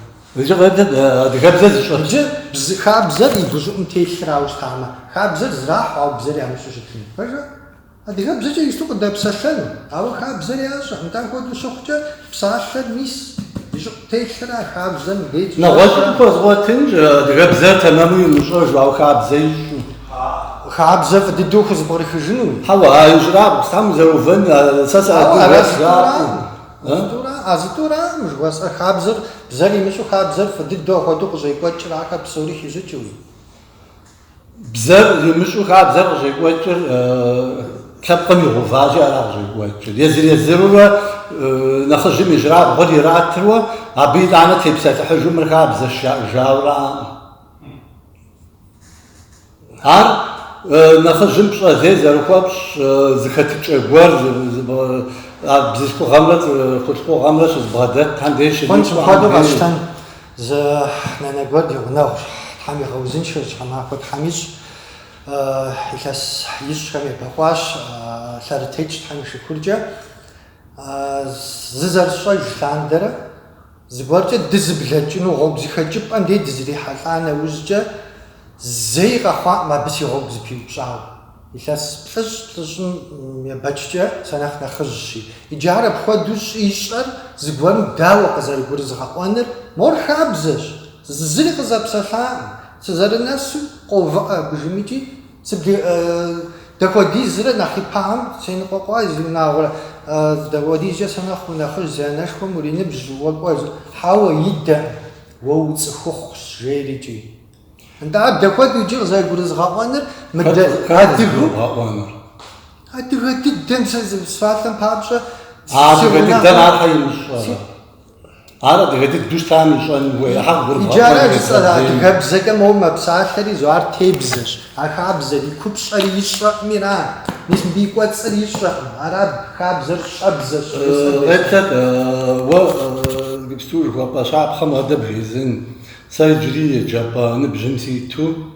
Адыгэбзэ зыщӏэ. Иджы бзы хабзэр и гущӏыӏум телъырауэ щытамэ, хабзэр зрахьу, ауэ бзэр ямыщӏу щытыну. Пэжа? Адыгэбзэкӏэ ищӏу къыдэпсэлъэну, ауэ хабзэр ящӏэ. Нтӏэ апхуэдэу щыхъукӏэ, псалъэр мис и щӏыӏу телъыр а хабзэм деж. Нэгъуэщӏым хуэзгъуэтынщ адыгэбзэр тэмэму имыщӏэжу, ауэ хабзэ ищӏу. Хабзэ фӏы дыдэу хузэпкърыхыжыну? Хьэуэ, а ижьрабгъу, Тхьэм узэувэн, сэ сыадыгэщ, жаӏэу. А зытӏуракъым жыхуэсӏэр? Хабзэр, бзэр имыщӏу хабзэр фӏы дыдэу апхуэдэу къыщӏекӏуэкӏыр, ахэр псори хищӏыкӏыуи? Бзэр имыщӏу хабзэр къыщӏекӏуэкӏыр лъэпкъым игъэуващи ара къыщӏекӏуэкӏыр. Езыр-езырурэ нэхъыжьым ижьрабгъур иратыруэ, абы итӏанэ тепсэлъыхьыжу мыр хабзэщ жаӏэжауэ аракъым. Ар нэхъыжьым пщӏэ лей зэрыхуэпщӏ зыхэтыкӏэ гуэр бзылъхугъэмрэ хъулъхугъэмрэ щызбгъэдэтхэм деж хуэдэу къэсщтэн зы нанэ гуэр ди гъунэгъущ. Тхьэм игъэузыншэ, щхьэмахуэ Тхьэм ищӏ. Илъэс ищӏхэм ебэкъуащ лъэрытетщ Тхьэм и шыкуркӏэ. Зызэрысщӏэж лъандэрэ Зыгуэркӏэ дызыблэкӏыну гъуэгу зыхэкӏыпӏэм дей дызэрихьэлӏа нэужькӏэ, зэи къэхъуакъым абы си гъуэгу зыпиупщӏауэ. Илъэс плӏыщӏ плӏыщӏым ебэкӏкӏэ сэ нэхъ нэхъыжьщи. Иджы ар апхуэдэу щӏищӏэр зыгуэрым дауэ къызэрыгурызгъэӏуэныр? Мор хабзэщ, зы зыри къызэпсэлъакъым. Сызэрынэсу, къоувыӏэ гужымыкӏи, Сыт дапхуэдизрэ нэхъ ипэӏуэм сеныкъуэкъуа зиунагъуэрэ? Сыт дапхуэдизкӏэ сэ нэхъ унэхъыжь, си анэшхуэм уриныбжь уэ кӏуэ зи? Хьэуэ, идэкъым, уэ уцӏыхухъущ, жери икӏи. Нтӏэ, ар дапхуэдэу иджы къызэрыгурызгъэӏуэныр? Мыдэ адыгэу? Адыгэ дыдэм сэ зы псалъэм папщӏэ си гъунэгъур. Адыгэ дыдэм ар щхьэ имыщӏэрэ? Ар адыгэ дыдэу щытам ищӏэн хуей хьэуэ, гурыбгъэӏуэн Иджы ара жысӏэр? езгъэзейм. Адыгэбзэкӏэ моуэ мэпсалъэри зо ар тебзэщ. А хабзэр и купщӏэр ищӏэкъыми ара. Мис мыбы и кӏуэцӏыр ищӏэкъым. Аращ хабзэр щӏэбзэщ жызӏэр дежьэн. Къеплъэт, уэ гипсту жыхуэпӏэ щапхъэм адэ бжезын. Сэ иджыри еджапӏэ ныбжьым ситу.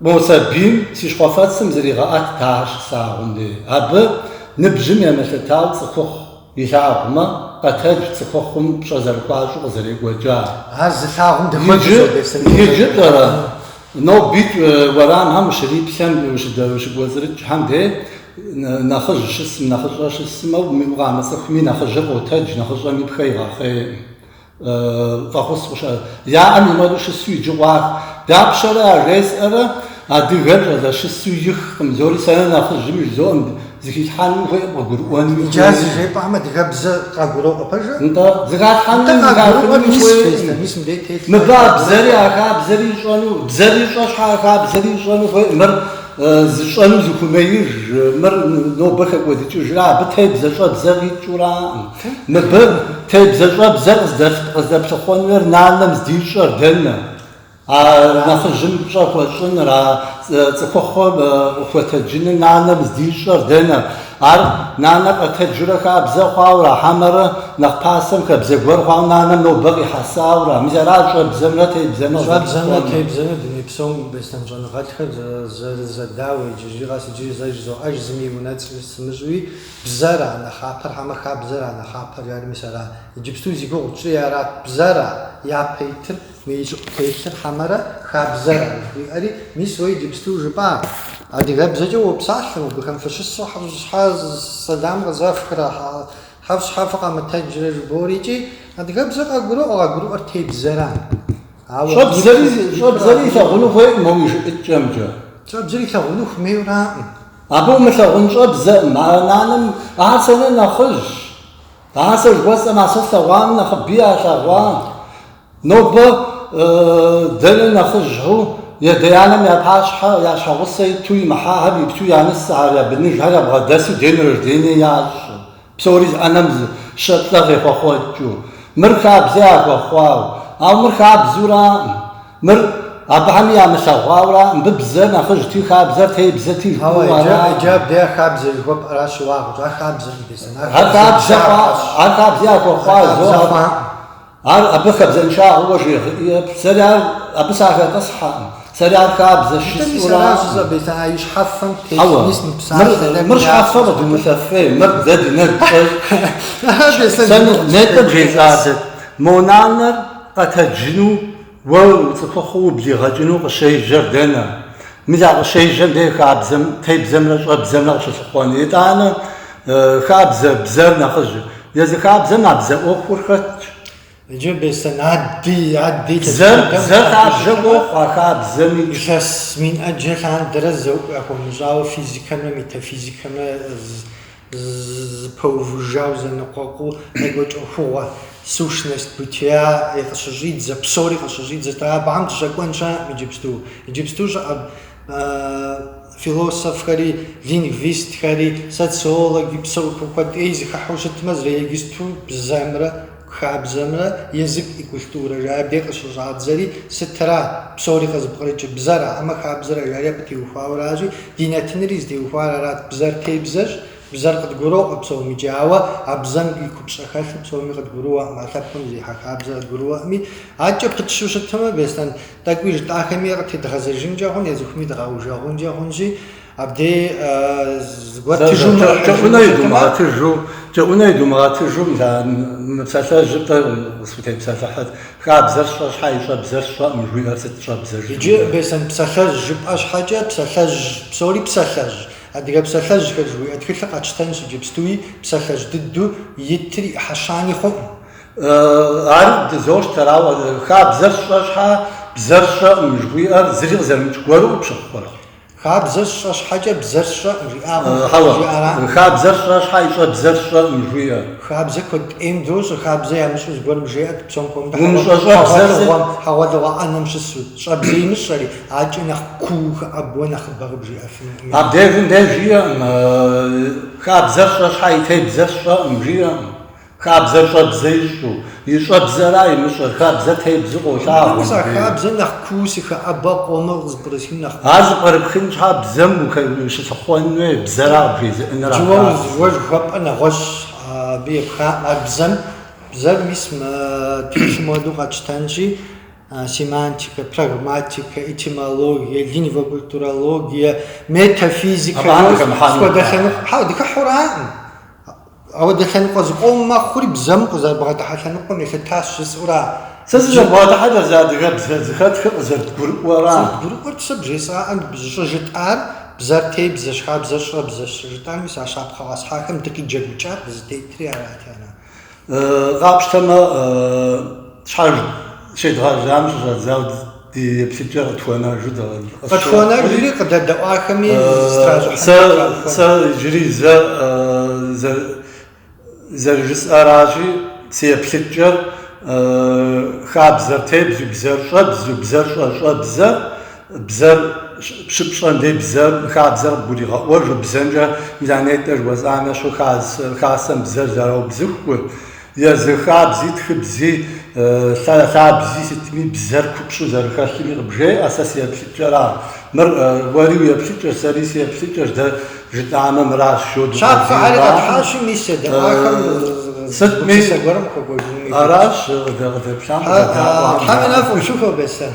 Мо сабийм си щхъуэфэцым зригъэӏэтт ахэр щыслъагъум де. Абы ныбжьым емылъытау цӏыхухъу илъагъумэ, къэтэдж цӏыхухъум пщӏэ зэрыхуащӏу къызэрекӏуэкӏар. Ар зылъагъум дыхуэдэщ адэ сабийм къыщӏэкӏуэкӏар. Иджы тӏэрэ? Нобитӏ уэрамхэм ущриплъэм, ущыкӏуэцӏрыкӏхэм де, нэхъыжь щысым, нэхъыщӏэ щысым, ауэ укъамыцӏыхуми нэхъыжьыр къотэдж, нэхъыщӏэм и пхэ игъэхъейӏым. фӏэхъус къыщӏар яӏэм и мэру щысу иджы къуах. Дапщэрэ ажесӏэрэ адыгэр щӏалэ щысу ихкъым, зори сэнэ нэхъыжьым жызоӏэм, зыхилъхьэну хуей къыгурыӏуэнуи Иджы ар хуейкъым. зыжепӏам адыгэбзэ къагуроӏуэ пэжу? Нтӏэ, зыхалъхьэми Нтӏэ, къагурыӏуэр зыхахыну мис хуейкъым. хуейщ дэ, мис мыбдеж телъ. Мыбы а бзэри а хабзэри ищӏэну, бзэр ищӏэ щхьэ а хабзэри ищӏэну хуей, мыр зыщӏэну зыхумеиж, мыр нобэ хэкӏуэдыкӏыжрэ абы тебзэ щӏэбзэ къикӏыураӏым. Мыбы тебзэ щӏэбзэ къыздэплъыхъуэнур нанэм здищӏэр дэнэ? А нэхъыжьым пщӏэ хуэщӏыныр, а цӏыхухъум къыхуэтэджыныр нанэм здищӏэр дэнэ? Ар нанэ къэтэджурэ хабзэ хъуауэра, хьэмэрэ нэхъ пасэм хабзэ гуэр хъуауэ нанэм нобэ къихьэсауэра? Мис аращ щӏэбзэмрэ тебзэмрэ зэрыпсэунур. Щӏэбзэмрэ тебзэмрэ дуней псом беслъэн щӏэныгъэлӏхэр зэрызэдауэ, иджыри къэс иджыри зэ жызоӏэж, зыми и унэцӏ сымыщӏуи, Бзэра нэхъапэр, хьэмэ хабзэра нэхъапэр жари мис ара. Иджыпсту зи гугъу тщӏри арат, бзэра япэ итыр, мы ищӏыӏу телъыр, хьэмэрэ хабзэра, жыхуиӏэри, мис уэ иджыпсту жыпӏа? Адыгэбзэкӏэ уопсалъэ, мыбыхэм фыщысу хьэвщхьэ сэлам къызэфхрэ, хьэвщхьэ фыкъэмытэджрэ жыбори икӏи, адыгэбзэ къагуроӏуэ, къагурыӏуэр тебзэра. Ауэ щӏэбзэри, щӏэбзэри илъагъуну хуейкъым, моуэ и жыӏыкӏэмкӏэ. Щӏэбзэри илъагъуну хумейураӏым. Абы умылъагъун щӏэбзэӏым, а нанэм ар сэнэ нэхъыжьщ. Ар сэ жыхуэсӏэм, а сэ слъэгъуам нэхъыби ялъэгъуа. Нобэ дэнэ нэхъыжьу ядэ-янэм я пащхьэ, я щхьэгъусэ иту имыхьахэм ипту я нысэхэр, я быныжьхэр ябгъэдэсу ден рождение ящӏ. Псори зы ӏэнэм зы щэ-плӏэ къехъуэхъуэкӏыу. Мыр хабзэ яхуэхъуау. Ауэ мыр хабзэураӏым. Мыр абыхэми ямылъэгъуауэра? Мыбы бзэр нэхъыжьти, хабзэр тебзэти жыпӏэу араӏым. Ауэ иджы, иджы абы я хабзэ жыхуэпӏэра щыуагъэщ. Ар хабзэкъым, дисэм. Ар хабзэ хъуакъым. Ар хабзэ яхуэхъуа зо. Ар хабзэ хъуакъым. Ар абы хабзэншагъэуэ жегъыӏэ, сэри ар абы сахэтӏысхьэкъым, сэри ар хабзэщ жысӏэуракъым. Хьэуэ, мыр щхьэфэ къыдумылъэфей, мыр дэ ди нэгу щӏэкӏ. Сэ нетӏэ бжесӏадэт, мо нанэр къэтэджыну? Уэ уцӏыхухъуу ублигъэкӏыну къыщежьэр дэнэ? Мис а къыщежьэм дей хабзэм, тебзэмрэ щӏэбзэмрэ къыщылъыхъуэн. Итӏанэ хабзэ, бзэр нэхъыжь. Езы хабзэм а бзэ ӏуэхур хэтщ. Иджы Беслъэн адди, адди Бзэр, лъэпкъыбэм бзэр хабзэ къащыщӏэмэ, ӏуэху а хабзэми. Илъэс мин ӏэджэ лъандэрэ зэуӏу яхуэмыщӏауэ физикэмрэ метафизикэмрэ Зэпэувыжауэ зэныкъуэкъуу къекӏуэкӏ ӏуэхугъуэ, сущность бытия, и къыщыщӏидзэ, псори къыщыщӏидзэрт. Абыхэм дыщӏэкӏуэн щыӏэкъым иджыпсту. Иджыпсту щыӏэ философхэри, лингвистхэри, социологи, псори, куэд ӏей зыхыхьэу щытмэ, зыри иджыпсту бзэмрэ Хабзэмрэ язык и культурэ жаӏэри къыщыщӏадзэри сытра? Псори къызыпкърыкӏыр бзэра хьэмэ хабзэра жари абы теухуауэ аращи, ди нэтынри зытеухуар арат. Бзэр тебзэщ, бзэр къыдгуроӏуэ псоми икӏи. Ауэ а бзэм и купщӏэ хэлъыр псоми къыдгурыӏуэкъым, а лъэпкъым зэрихьэ хабзэр къыдгурыӏуэкъыми. Адэкӏэ пытщу щытмэ, Беслъэн тӏэкӏуи жытӏахэми къытедгъэзэжынкӏэ хъун, езыхэми дыкъаужэгъункӏэ хъунщи. Абдей згуэртыжу кӏэӏунэ идумыгъэтыжу, кӏэӏунэ идумыгъэтыжу мы псалъэжьыр дэ къысхутепсэлъыхьыт, хабзэр сщӏэ щхьэ и щӏэбзэр сщӏэкъым жыхуиӏэр сыт щӏэбзэр? Иджы Беслъэн псалъэжь жыпӏэ щхьэкӏэ псалъэжь псори псалъэжь, адыгэ псалъэжьхэр жыхуиӏэ тхылъыр къэтщтэнщ иджыпстуи, псалъэжь дыдэу итыр ӏыхьэ щани хъуӏым. Ар дызощтэр, ауэ хабзэр сщӏэ щхьэ бзэр сщӏэкъым жыхуиӏэр зыри къызэрымыкӏ гуэру къыпщыхъурэ? Хабзэр сщӏэ щхьэкӏэ бзэр сщӏэӏым жиӏагъэу жиӏэра? Хьэуэ, хабзэр сщӏэ щхьэ и щӏэбзэр сщӏэӏым жиӏэ. Хабзэ куэд ӏейм дощӏэ, хабзэ ямыщӏу зыгуэрым жеӏэт псом хуэмыдэу хьэгъуэлӏыгъуэм, хьэгъуэлӏыгъуэ ӏэнэм щысу, щӏэбзэ имыщӏэри, адэкӏэ нэхъ куу хэӏэбуэ нэхъыбэ къыбжиӏэфынукъыми. Абдежым де жиӏэкъым, Хабзэр сщӏэ щхьэ и тебзэр сщӏэӏым жиӏэкъым. Хабзэр щӏэбзэ ищӏу, и щӏэбзэра имыщӏэр, хабзэ тебзу къолъагъу. Икӏи а хабзэм нэхъ куу сыхэӏэба къомыр къызыпкърысхын нэхъ куу. Ар зыпкърыпхын щхьа бзэм ущылъыхъуэн хуей, бзэра къыбжезыӏэныр а хабзэм. Уэ жыхуэпӏэр нэгъуэщӏщ абы епхаӏым, ар бзэм, бзэр мис мы тхылъым хуэдэу къэтщтэнщи, семантикэ, прагматикэ, этимологие, лингвокультурологие, метафизикэ, фи хуэдэ лъэныкъуэ, хьэуэ, дыхыхьураӏым. Апхуэдэ лъэныкъуэ зыкъом мэхъури бзэм къызэрыбгъэдыхьэ лъэныкъуэм елъытащ жысӏэура? Сэ сызэрыбгъэдыхьэр зи адыгэбзэ зыхэтхэр къызэрыдгурыӏуэра? Зэрыдгурыӏуэр сэ бжесӏаӏэ, бзэ щӏыжытӏар бзэр тебзэщ, хабзэр щӏэбзэщ жытӏар, мис а щапхъэ къэсхьахэм дыкъиджэгукӏар къызытетри арати, ара? Къапщтэмэ, щхьэж щедгъэжьам щыщӏэдзауэ Ди еплъыкӏэр къытхуэнэжу дыкъэсщӏэкъым. Къытхуэнэжри къыдэдэӏуахэми зыстражьыхьын сэ къахуэнэ. Сэ иджыри зэ зэрыжысӏэращи, си еплъыкӏэр хабзэр тебзу, бзэр щӏэбзу, бзэр щӏэщӏэбзэр, бзэр щыпщӏэм дей бзэр, хабзэр къыбгуригъэӏуэжу, бзэмкӏэ мис а нетӏэ жыхуэсӏам ещхьу хасэм бзэр зэраубзыхур, Езы хабзи, тхыбзи, лъабзи сытми бзэр купщӏу зэрыхэлъми къыбжеӏэ, сэ си еплъыкӏэр ар. Мыр уэри уи еплъыкӏэщ, сэри си еплъыкӏэщ, дэ жытӏамэ мыращ, жыдоӏэ. Щапхъэхэри къэтхьащи, мис едэӏуахэм гупсысэ гуэрым къыхуэкӏуэжынуи хуейщ. Аращ къыдэплъам, къыдэдэӏуам. Тхьэм и нэфӏ къыпщыхуэ, Беслъэн.